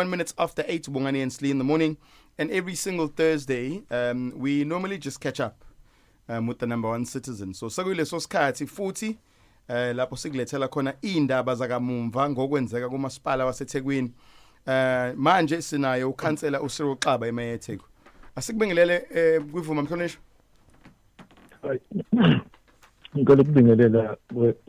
one minutes after eight, Bongani and Slee in the morning. And every single Thursday, um, we normally just catch up um, with the number one citizen. So sekuyileso sikhathi futhi eh lapho sikulethela khona indaba zakamumva ngokwenzeka kumasipala waseThekwini. Eh manje sinayo ukhansela uSiro Xaba eMayetheku. Asikubingelele eh kwivuma mhlonishwa. ngicela ukubingelela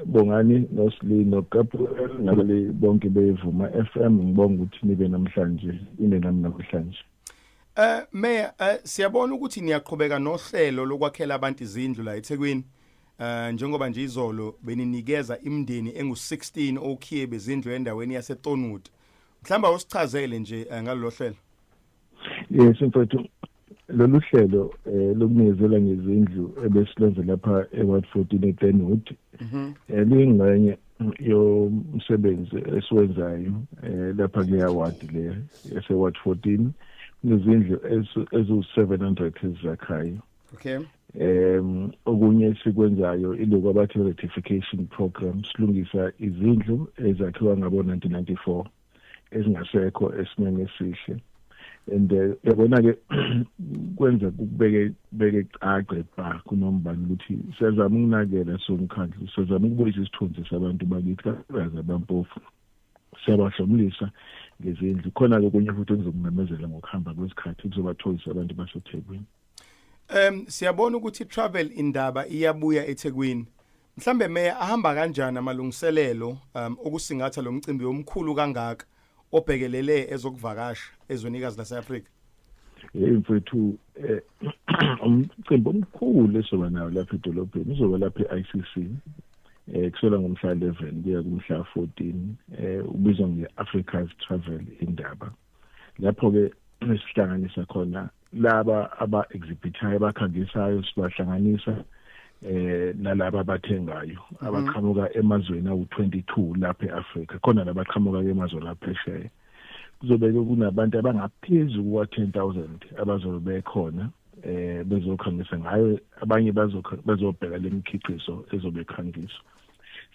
bongani nosli nogabriel nabale bonke bevuma FM ngibonga ukuthi nibe namhlanje ine nami namhlanje Eh Mayor eh, siyabona ukuthi niyaqhubeka nohlelo lokwakhela abantu izindlu la eThekwini eh njengoba nje izolo beninikeza imndeni engu16 okhiye bezindlu endaweni yaseTonwood mhlamba usichazele nje eh, ngalolu hlelo yes mfethu lolu hlelo eh, lokunikezela ngezindlu ebesilwenze lapha e-ward 14 eglenwood mhm. eh, luyingxenye yomsebenzi esiwenzayo eh, lapha kuleya ward le ese-ward 14 kunezindlu eziwu-700 ezizakhayo okay um okunye esikwenzayo iloku abathi rectification program silungisa izindlu ezakhiwa ngabo-1994 ezingasekho esimeni esihle and eh, yabona ke kwenza kubeke beke cace ba kunombani ukuthi siyazama ukunakela somkhandlu siyazama ukubuyisa isithunzi sabantu bakithi kakhulukazi abampofu siyabahlomulisa ngezindlu khona ke kunye futhi okuzokumemezela ngokuhamba kwesikhathi kuzobathoyisa abantu baseThekwini Em siyabona ukuthi travel indaba iyabuya eThekwini Mhlambe meya ahamba kanjani amalungiselelo um, okusingatha lo mcimbi omkhulu kangaka obhekelele ezokuvakasha ezwenikazi lase-Afrika? Hey mfethu eh umcimbi omkhulu esoba nawo lapha edolobheni uzoba lapha e-ICC eh kusela ngomhla 11 kuya kumhla 14 eh ubizwa nge-Africa's Travel Indaba lapho ke sihlanganisa khona laba aba exhibitayo abakhangisayo sibahlanganisa eh nalaba abathengayo mhm. abaqhamuka emazweni awu22 lapha eAfrika khona nabaqhamuka ke emazweni aphesheya kuzobe kunabantu abangaphezulu kwa 10000 abazobe bekhona eh bezokhangisa ngayo abanye bazobheka lemikhiqizo ezobe khangiswa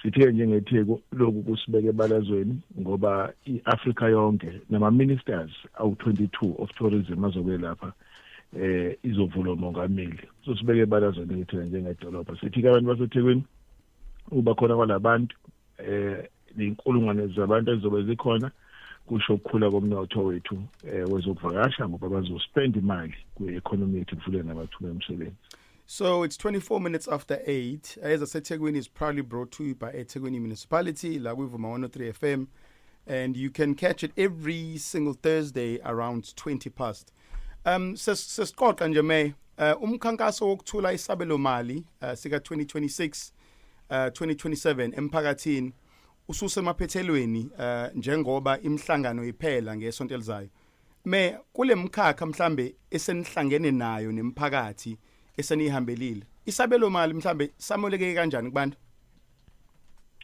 sithe njengetheku lokhu kusibeke ebalazweni ngoba i-africa yonke nama-ministers awu-22 of tourism azoke lapha eh izovula umongameli so sibeke ebalazweni ngithina njengedolobha sithi-ke abantu basethekwini uba khona kwalabantu eh ney'nkulungwane zabantu ezizobe zikhona kusho ukukhula komnotho wethu eh wezokuvakasha ngoba bazospend imali kwi-economy yethu kuvule namathuba emisebenzi So it's 24 minutes after 8. Ayeza seThekwini is proudly brought to you by eThekwini Municipality la kwiVuma 103 FM and you can catch it every single Thursday around 20 past. Um sesiqoqa nje me uh, umkhankaso wokuthula isabelo mali uh, sika 2026 uh, 2027 emphakathini ususemaphethelweni uh, njengoba imhlangano iphela ngesonto elizayo. Meya kulemkhakha mhlambe esenihlangene nayo nemphakathi esenihambelile isabelo mali mhlambe samoleke kanjani kubantu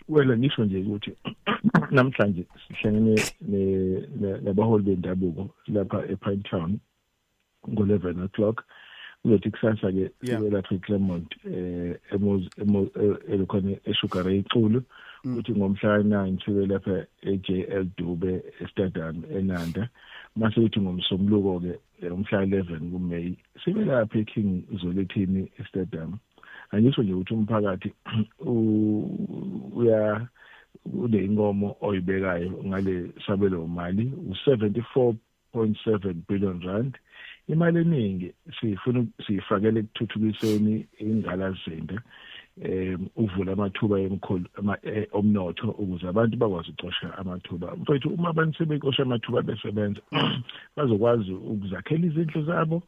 Wela ngisho nje ukuthi namhlanje sihlangene nabaholi bendabuko lapha ePine Town ngo-11 o'clock kuzothi kusasa-ke sibe lapha eclermont um elokhona esugar iculu mm. ukuthi ngomhla ka-9 sibe lapha e-jl dube estadium enanda mase kuthi ngomsombuluko-ke eh, umhla 11 kumeyi sibe lapha eking zolethini estadium angisho nje ukuthi umphakathi uya kule inkomo oyibekayo ngale sabelo mali u-74 1.7 billion rand imali eningi siyifuna siyifakele ekuthuthukiseni ingqalazimbe um ukuvula amathuba emkhulu e, omnotho ukuze abantu bakwazi ukucosha amathuba mfethu uma abantu sebecosha amathuba besebenza bazokwazi ukuzakhela izindlu zabo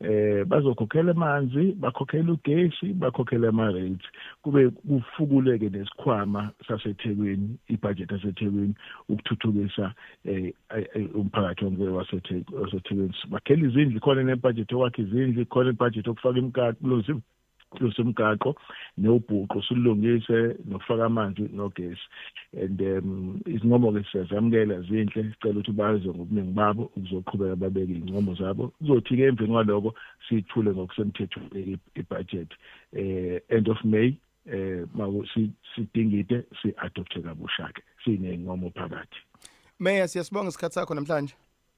eh bazokhokhela amanzi bakhokhela ugesi bakhokhela ama rates kube kufukuleke nesikhwama saseThekwini ibudget yaseThekwini ukuthuthukisa eh, eh umphakathi wonke waseThekwini bakhela izindlu khona nebudget okwakhe izindlu khona ibudget okufaka imkati kulozimo lungise umgaqo newubhuqu silungise nokufaka amanzi nogesi and um izincomo ke siyazamukela zinhle sicela ukuthi baze ngobuningi babo ukuzoqhubeka babeke izincomo zabo kuzothi ke emveni kwaloko sithule ngokusemthethweni ibudget eh end of May eh maku sidingide si adopte kabusha ke sinezincomo phakathi Meya siyasibonga isikhatsi sakho namhlanje